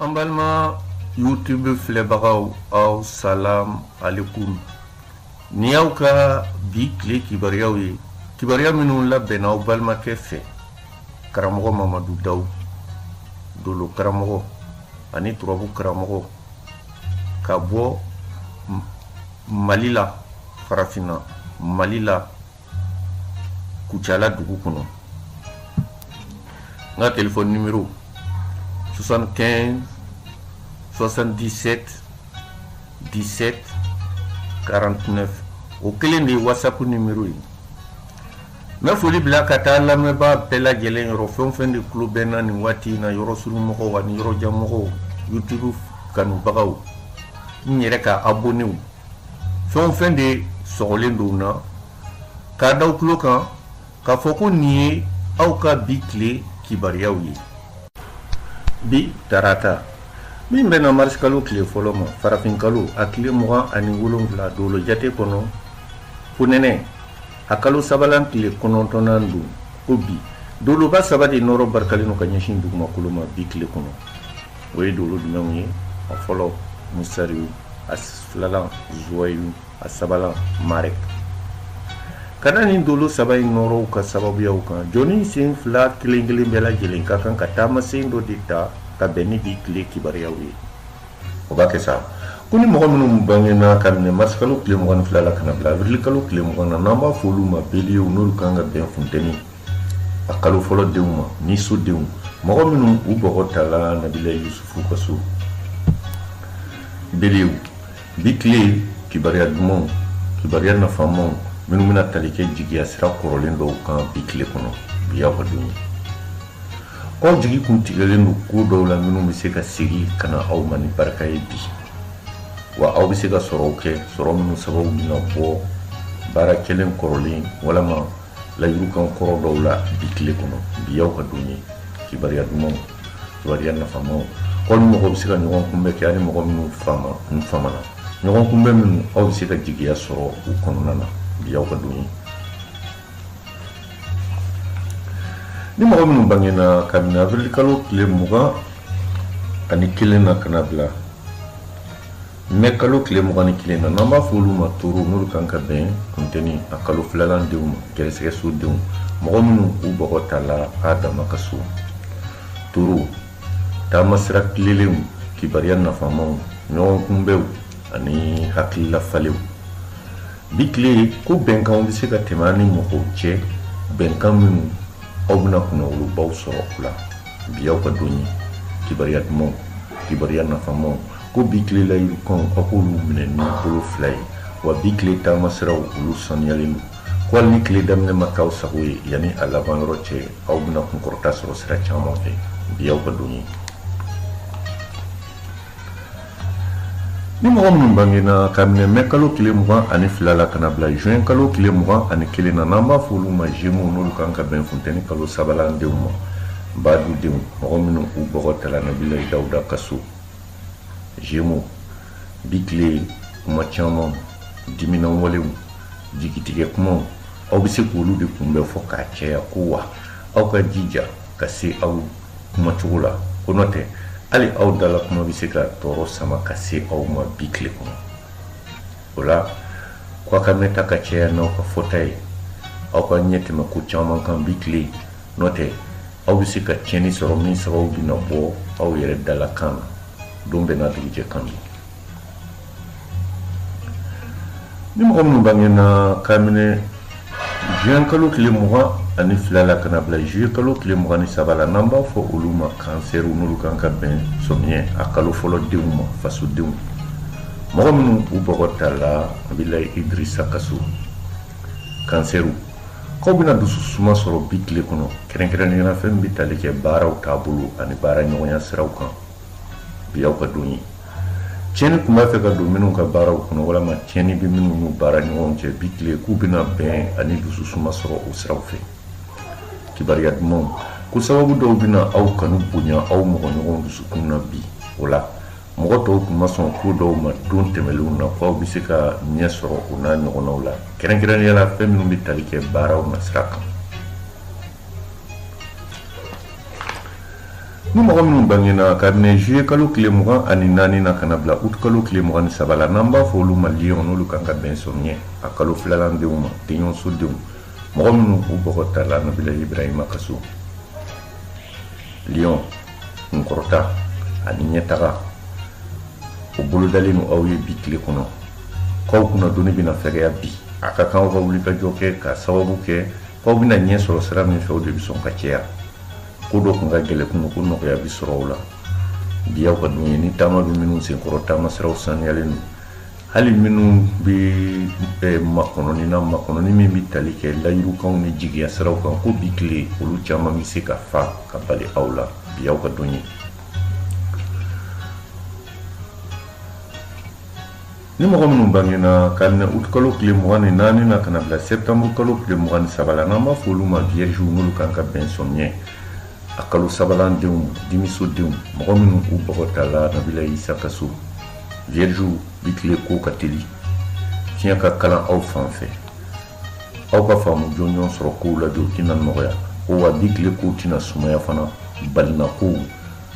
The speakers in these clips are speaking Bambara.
an balima youtube filɛbagaw aw salam alekum nin y'aw ka bi tile kibaruyaw ye kibaruya minnu labɛnna aw balimakɛ fɛ karamɔgɔ mamadu dawu dolo karamɔgɔ ani turabu karamɔgɔ ka bɔ mali la farafinna mali la kucala dugu kɔnɔ n ka telefɔni nimero 75 77 17 49 o kelen de ye whatsapp nimero ye n bɛ foli bila ka taa lamɛnbaa bɛɛ lajɛlen yɔrɔ fɛn o fɛn de tulo bɛ n na nin waati in na yɔrɔsurunmɔgɔw ani yɔrɔjanmɔgɔw youtube kanubagaw n yɛrɛ ka abonew fɛn o fɛn de sɔgɔlen don na k'a da aw tulo kan k'a fɔ ko nin ye aw ka bi tile kibaruyaw ye bi tarata min bɛnna marisikalo tile fɔlɔ ma farafinkalo a tile mugan ani wolonfila dolo jate kɔnɔ fonɛnɛ a kalo sabalan tile kɔnɔntɔnnan don ko bi doloba saba de nɔɔrɔ barikalen don ka ɲɛsin dugumakolo ma bi tile kɔnɔ o ye dolo jumɛnw ye a fɔlɔ musariyu a filalan zuwayilu a sabalan marek ka da nin dolo saba in nɔɔrɔw ka sababuyaw kan jɔni sen fila kelen kelen bɛɛ lajɛlen ka kan ka taamasen dɔ de ta ka bɛn ni bi tile kibaruyaw ye o b'a kɛ sa ko ni mɔgɔ minnu bangena ka minɛ marisikalo tile mugan ni fila la ka na bila awirilikalo tile mugan na n'an b'a fɔ olu ma beliyew n'olu kan ka bɛn funteni a kalo fɔlɔ denw ma ni so denw mɔgɔ minnu u bɔgɔ tala nabilayi yusufu ka so beliyew bi tile kibariya dumanw kibariya nafamaw minnu bɛna tali kɛ jigiya sira kɔrɔlen dɔw kan bi tile kɔnɔ bi y'aw ka don ye k'aw jigi kun tigɛlen don ko dɔw la minnu bɛ se ka segi ka na aw ma ni barika ye bi wa aw bɛ se ka sɔrɔw kɛ sɔrɔ minnu sababu bɛna bɔ baara kɛlen kɔrɔlen walama layirukan kɔrɔ dɔw la bi tile kɔnɔ bi y'aw ka don ye kibaruya dumanw kibaruya nafamaw aw ni mɔgɔ bɛ se ka ɲɔgɔn kunbɛn kɛ ani mɔgɔ minnu famana ɲɔgɔn kunbɛn minnu aw bɛ se ka jigiya sɔrɔ u kɔnɔna na bi y'aw ka don ye ni mɔgɔ minnu bangena kabini avril kalo tile mugan ani kelen na ka na bila mɛ kalo tile mugan ni kelen na n'an b'a fɔ olu ma toro n'olu kan ka bɛn funteni a kalo filalan denw ma gɛrɛsɛgɛ so denw mɔgɔ minnu u bɔgɔ tala adama ka so toro taamasira tilelenw kibaruya nafamaw ɲɔgɔn kunbɛnw ani hakilila falenw bi tile ko bɛnkanw bɛ se ka tɛmɛ aw ni mɔgɔw cɛ bɛnkan minnu aw bɛna kunnawolobaw sɔrɔ u la bi y'aw ka don ye kibaruya dumanw kibaruya nafamaw ko bi tile layidukanw aw k'olu minɛ ni bolo fila ye wa bi tile taama siraw olu saniyalen don ko hali ni tile daminɛ ma k'aw sago ye yanni a laban yɔrɔ cɛ aw bɛna kunkɔrɔta sɔrɔ sira caman fɛ bi y'aw ka don ye ni mɔgɔ minnu bangena ka minɛ mɛ kalo tile mugan ani fila la ka na bila juin kalo tile mugan ani kelen na n'an b'a fɔ olu ma jemo n'olu kan ka bɛn funteni kalo sabalan denw ma badu denw mɔgɔ minnu u bɔgɔ tala nabila dawuda ka so jemo bi tile kuma caman diminan walew jigitigɛ kumaw aw bɛ se k'olu de kunbɛn fɔ k'a cɛya ko wa aw ka jija ka se aw kumacogo la ko n'o tɛ hali aw dala kuma bɛ se ka tɔɔrɔ sama ka se aw ma bi tile kɔnɔ o la k'aw ka mɛnta ka cɛya n'aw ka fɔta ye aw ka ɲɛ tɛmɛ ko caman kan bi tile n'o tɛ aw bɛ se ka tiɲɛni sɔrɔ min sababu bɛna bɔ aw yɛrɛ dalakan na don bɛɛ n'a dugujɛ kan don ni mɔgɔ minnu bangena kabini juin kalo tile mugan ani fila la ka na bila juillet kalo tile mugan ni saba la n'an b'a fɔ olu ma kansɛriw n'olu kan ka bɛn sɔmiɲɛ a kalo fɔlɔ denw ma fasodenw mɔgɔ minnu u bɔgɔ tala nabila idirisa ka so kansɛriw Aw bɛna dusu suma sɔrɔ bi tile kɔnɔ kɛrɛnkɛrɛnnenya fɛn bɛ tali kɛ baaraw taabolo ani baara ɲɔgɔnya siraw kan bi y'aw ka don ye tiɲɛni tun b'a fɛ ka don minnu ka baaraw kɔnɔ walima tiɲɛni bɛ minnu n'u baara ɲɔgɔn cɛ bi tile k'u bɛna bɛn ani dusu suma sɔrɔ o siraw fɛ kibaru dumanw ko sababu dɔw bɛna aw kanu bonya aw mɔgɔ ɲɔgɔn dusukun na bi o la mɔgɔ tɔw tun ma sɔn ko dɔw ma don tɛmɛnlenw na k'aw bɛ se ka ɲɛ sɔrɔ o n'a ɲɔgɔnnaw la kɛrɛnkɛrɛnnenya la fɛn minnu bɛ tali kɛ baaraw nasira kan ni mɔgɔ minnu bangena kabini juye kalo tile mugan ani naani na ka na bila ut kalo tile mugan ni saba la n'an b'a fɔ olu ma liyɔn n'olu kan ka bɛn sɔmiɲɛ a kalo filalan denw ma denɲɔgɔnso denw mɔgɔ minnu u bɔgɔ tala nabila ibrahima ka so liyɔn kunkɔrɔta ani ɲɛtaga o bolodalen don aw ye bi tile kɔnɔ k'aw kunnadonni bɛna fɛgɛya bi a ka kan aw ka wulikajɔ kɛ k'a sababu kɛ k'aw bɛna ɲɛ sɔrɔ sira min fɛ o de bɛ sɔn ka cɛya ko dɔ tun ka gɛlɛn kunun ko nɔgɔya bɛ sɔrɔ o la bi y'aw ka don ye ni taama bɛ minnu sen kɔrɔ taama siraw saniyalen don hali minnu bɛ eh, makɔnɔni na makɔnɔni min bɛ tali kɛ layidukanw ni jigiya siraw kan ko bi tile olu caman bɛ se ka fa ka bali aw la bi y'aw ka don ye ni mɔgɔ minnu bangena kabini uti kalo tile mugan ni naani na ka na bila sɛptanburu kalo tile mugan ni saba la n'an b'a fɔ olu ma viergew n'olu kan ka bɛn sɔmiɲɛ a kalo sabanan denw dimiso denw mɔgɔ minnu u bɔgɔ tala nabila isa ka so viergew bi tile ko ka teli fiɲɛ ka kalan aw fan fɛ aw ka faamu jɔnjɔn sɔrɔ kow la jɔ tɛna nɔgɔya ko wa bi tile kow tɛna sumaya fana balinakow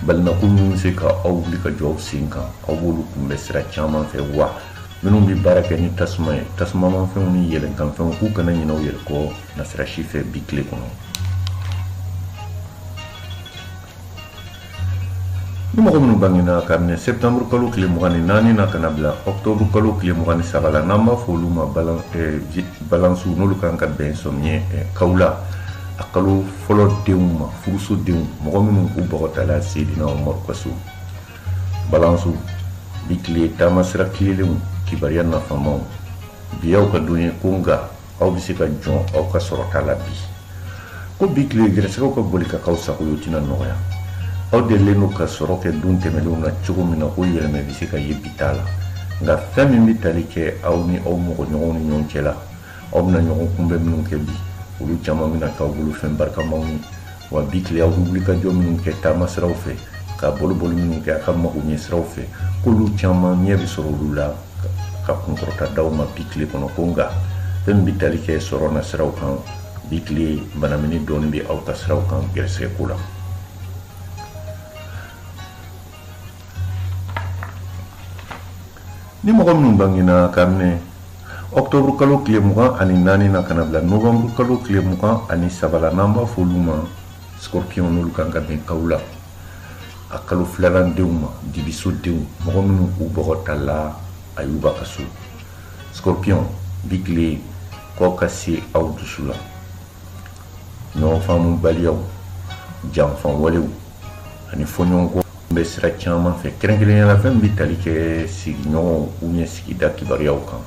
balinako minnu bɛ se ka aw wuli ka jɔ aw sen kan aw b'olu kunbɛn sira caman fɛ wa minnu bɛ baara kɛ ni tasuma ye tasumamanfɛnw ni yɛlɛnkanfɛnw k'u kana ɲinɛ u yɛrɛ kɔ nasira si fɛ bi tile kɔnɔ ni mɔgɔ minnu bangena kabini septembre kalo tile mugan ni naani na ka na bila octobre kalo tile mugan ni saba la n'an b'a fɔ olu ma balansiw n'olu kan ka bɛn sɔmiɲɛ kawula a kalo fɔlɔ denw ma furuso denw mɔgɔ minnu u bɔgɔ tala seydina umaru ka so balansiw bi tile taama sira tilelenw kibaruya nafamaw bi y'aw ka don ye ko nka aw bɛ se ka jɔn aw ka sɔrɔta la bi ko bi tile gɛrɛsɛgɛw ka boli ka k'aw sago ye o tɛna nɔgɔya aw delilen don ka sɔrɔ kɛ don tɛmɛnenw na cogo min na ko yɛlɛmɛ bɛ se ka ye bi ta la nka fɛn min bɛ tali kɛ aw ni aw mɔgɔ ɲɔgɔnw ni ɲɔgɔn cɛ la aw bɛna ɲɔgɔnkunbɛn minnu kɛ bi olu caman bɛna k'aw bolo fɛn barikamaw ye wa bi tile aw bɛ wulikajɔ minnu kɛ taama siraw fɛ ka boliboli minnu kɛ aw ka magoɲɛ siraw fɛ k'olu caman ɲɛ bɛ sɔrɔ olu la ka kunkɔrɔta d'aw ma bi tile kɔnɔ ko nka fɛn min bɛ tali kɛ sɔrɔ nasiraw kan bi tile banamini dɔɔni bɛ aw ka siraw kan gɛrɛsɛgɛ ko la ni mɔgɔ minnu bangena kabini ɔktɔburu kalo tile mugan ani naani na ka na bila novanburu kalo tile mugan ani saba la n'an b'a fɔ olu ma scorpion n'olu kan ka bɛn kawula a kalo filanan denw ma dibiso denw mɔgɔ minnu u bɔgɔ tala ayuba ka so scorpion bi tile k'aw ka se aw dusu la ɲɔgɔn faamubaliyaw janfa walew ani fɔɲɔgɔnkɔ bɛ sira caman fɛ kɛrɛnkɛrɛnnenya la fɛn bɛ tali kɛ sigiɲɔgɔnw u ɲɛ sigida kibaruyaw kan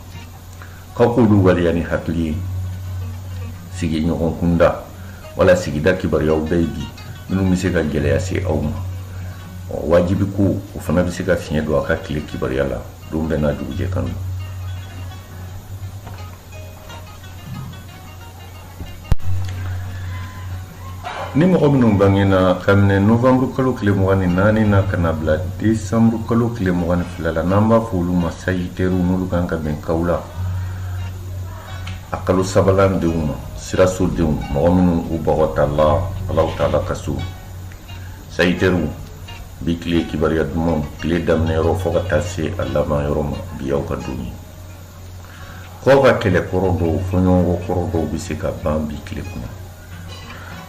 k'aw k'olu waleya ni hakili ye sigiɲɔgɔn kunda wala sigida kibaruyaw bɛɛ bi minnu bɛ se ka gɛlɛya se aw ma wajibi ko o fana bɛ se ka fiɲɛ don a ka tile kibaruya la don bɛɛ n'a dugujɛ kan don Ni mɔgɔ minnu bangena kabini nowanburu kalo tile mugan ni naani na ka na bila desanburu kalo tile mugan ni fila la n'an b'a fɔ olu ma sagittaire n'olu kan ka bɛn kawula a kalo sabanan denw ma sirasodenw mɔgɔ minnu u bɔgɔ tala alahu taala ka so sagittaire bi tile kibaruya dumanw tile daminɛ yɔrɔ fo ka taa se a laban yɔrɔ ma bi aw ka don ye k'aw ka kɛlɛ kɔrɔ dɔw fɔɲɔgɔnkɔ kɔrɔ dɔw bɛ se ka ban bi tile kɔnɔ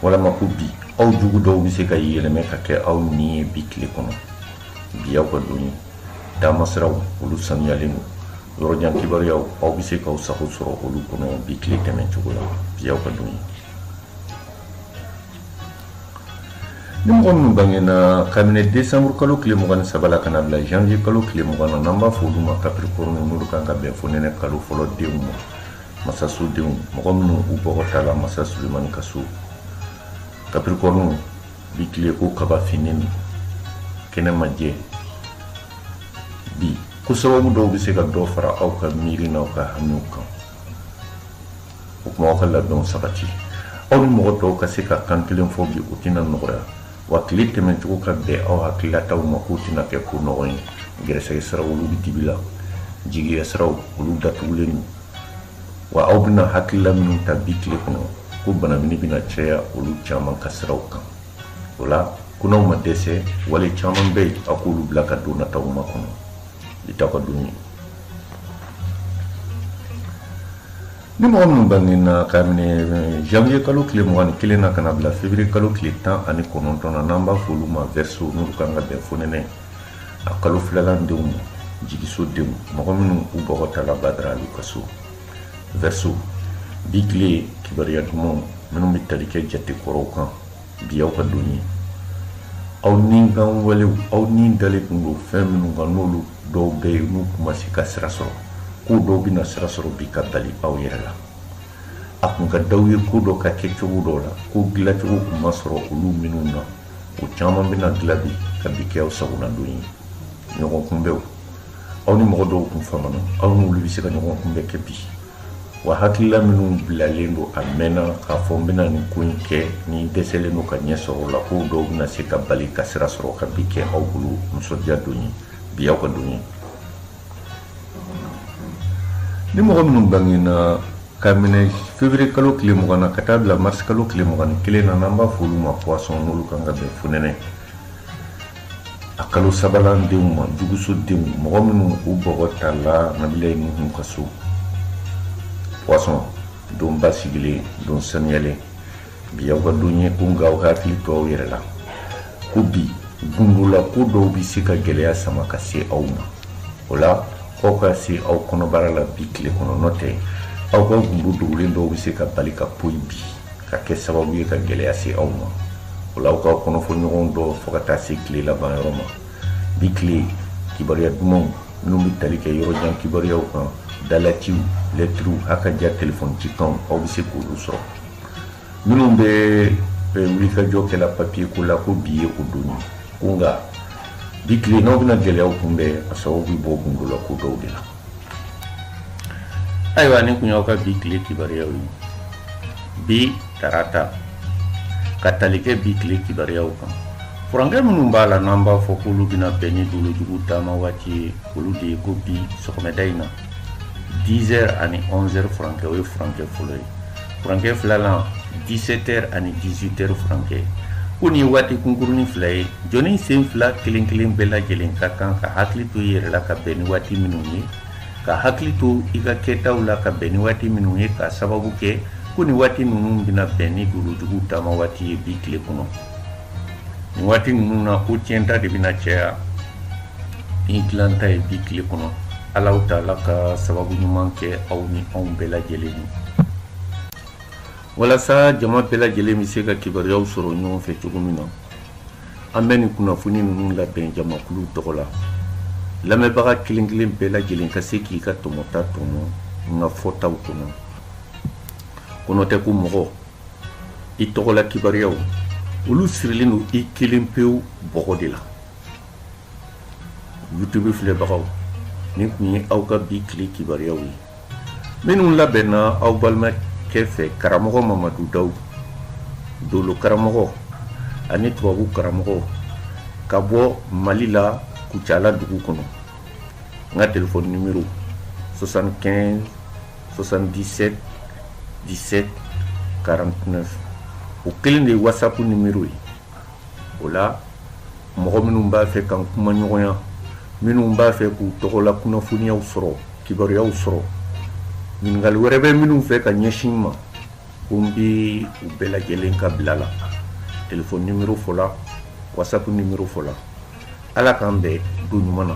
walama ko bi aw jugu dɔw bɛ se ka yɛlɛmɛ ka kɛ aw ɲin ye bi tile kɔnɔ bi aw ka don ye taamasiraw olu sanuyalen don yɔrɔjan kibaruyaw aw bɛ se k'aw sago sɔrɔ olu kɔnɔ bi tile tɛmɛcogo la bi aw ka don ye ni mɔgɔ minnu bangena kabini desanburu kalo tile mugan ni saba la ka na bila janvier kalo tile mugan na n'an b'a fɔ olu ma kapirikɔrɔni n'olu kan ka bɛn fonɛnɛ kalo fɔlɔ denw ma masasodenw mɔgɔ minnu u bɔgɔ tala masa sulemani ka so kapirikɔrɔniw bi tile ko kaba finnen kɛnɛ ma jɛ bi ko sababu dɔw bɛ se ka dɔ fara aw ka miiri n'aw ka hamiw kan o tuma aw ka labɛnw sabati aw ni mɔgɔ tɔw ka se ka kan kelen fɔ bi o tɛna nɔgɔya wa tile tɛmɛcogo ka bɛn aw hakililataw ma k'o tɛna kɛ ko nɔgɔ ye gɛrɛsɛgɛ siraw olu bɛ dibi la jigiya siraw olu datugulen don wa aw bɛna hakilila minnu ta bi tile kɔnɔ ko banamini bɛna caya olu caman ka siraw kan o la ko n'aw ma dɛsɛ wale caman bɛ yen aw k'olu bila ka don nataw makɔnɔ bi t'aw ka don ye ni mɔgɔ minnu bangena kabini janvier kalo tile mugan ni kelen na ka na bila février kalo tile tan ani kɔnɔntɔn na n'an b'a f'olu ma verseau n'olu kan ka bɛn fonɛnɛ a kalo filanan denw ma jigiso denw mɔgɔ minnu u bɔgɔ tala badara ali ka so verseau bi tile kibaruya dumanw minnu bɛ tali kɛ jate kɔrɔw kan bi aw ka don ye aw ni kan walew aw ni dalen tun don fɛn minnu kan n'olu dɔw bɛ yen n'u kun ma se ka sira sɔrɔ ko dɔw bɛna sira sɔrɔ bi ka bali aw yɛrɛ la a kun ka d'aw ye ko dɔ ka kɛ cogo dɔw la ko dilacogo kun ma sɔrɔ olu minnu na o caman bɛna dila bi ka bi kɛ aw sagonadon ye ɲɔgɔn kunbɛnw aw ni mɔgɔ dɔw kun famana aw n'olu bɛ se ka ɲɔgɔn kunbɛn kɛ bi wa hakilila minnu bilalen don a mɛnna k'a fɔ n bɛna nin ko in kɛ ni dɛsɛlen don ka ɲɛ sɔrɔ o la ko dɔw bɛna se ka bali ka sira sɔrɔ ka bi kɛ aw bolo nisɔndiya don ye bi aw ka don ye ni mɔgɔ minnu bangena ka minɛ fevrier kalo tile mugan na ka taa bila mars kalo tile mugan ni kelen na n'an b'a fɔ olu ma poisson n'olu kan ka bɛn fonɛnɛ a kalo sabanan denw ma juguso denw mɔgɔ minnu u bɔgɔ tala nabilayi nuhun ka so poisson don basigilen don saniyalen bi aw ka don ye ko nka aw ka hakili to aw yɛrɛ la ko bi gundola ko dɔw bɛ se ka gɛlɛya sama ka se aw ma o la aw ka se aw kɔnɔbara la bi tile kɔnɔ n'o tɛ aw ka gundo dogolen dɔw bɛ se ka bali ka poyi bi ka kɛ sababu ye ka gɛlɛya se aw ma o la aw ka kɔnɔfɔɲɔgɔn dɔn fo ka taa se tile laban yɔrɔ ma bi tile kibaruya dumanw minnu bɛ tali kɛ yɔrɔjan kibaruyaw kan dalaciw lɛtiriw a ka ja telefɔni cikanw aw bɛ se k'olu sɔrɔ minnu bɛ wulikajɔ kɛla papiye ko la ko bi ye o don ye ko nka bi tile n'aw bɛna gɛlɛyaw kunbɛn a sababu bɛ bɔ gundolako dɔw de la ayiwa nin tun y'aw ka bi tile kibaruyaw ye bi tarata ka tali kɛ bi tile kibaruyaw kan furankɛ minnu b'a la n'an b'a fɔ k'olu bɛna bɛn ni dolojugu taama waati ye olu de ye ko bi sɔgɔmɛda in na 10 heures ani 11 heures furankɛ o ye furankɛ fɔlɔ ye Furankɛ filanan 17 heures ani 18 heures furankɛ ko nin ye waati kunkurunin fila ye jɔnni sen fila kelen kelen bɛɛ lajɛlen ka kan ka hakili to i yɛrɛ la ka bɛn ni waati minnu ye ka hakili to i ka kɛtaw la ka bɛn ni waati minnu ye k'a sababu kɛ ko nin waati ninnu bɛna bɛn ni dolojugu taama waati ye bi tile kɔnɔ waati ninnu na ko tiɲɛta de bɛna caya ni dilanta ye bi tile kɔnɔ alahu taala ka sababu ɲuman kɛ aw ni anw bɛɛ lajɛlen ye walasa jama bɛɛ lajɛlen bɛ se ka kibaruyaw sɔrɔ ɲɔgɔn fɛ cogo min na an bɛ nin kunnafoni ninnu labɛn jamakulu tɔgɔ la lamɛnbaga kelen kelen bɛɛ lajɛlen ka se k'i ka tɔmɔta tɔmɔ n ka fɔtaw kɔnɔ ko n'o tɛ ko mɔgɔ i tɔgɔla kibaruyaw olu sirilen don i kelen pewu bɔgɔ de la youtube filɛbagaw nin tun ye aw ka bi tile kibaruyaw ye minnu labɛnna aw balimakɛ fɛ karamɔgɔ mamadu daw dolo karamɔgɔ ani tubabu karamɔgɔ ka bɔ mali la kucala dugu kɔnɔ n ka telefɔni nimero 75 77 17 49 o kelen de ye whatsapp nimero ye o la mɔgɔ minnu b'a fɛ k'an kumaɲɔgɔnya minnu b'a fɛ k'u tɔgɔla kunnafoniyaw sɔrɔ kibaruyaw sɔrɔ ɲininkali wɛrɛ bɛ minnu fɛ ka ɲɛsin an ma ko n bɛ u bɛɛ lajɛlen ka bila la telefɔni nimero fɔla whatsapp nimero fɔla ala k'an bɛn don ɲuman na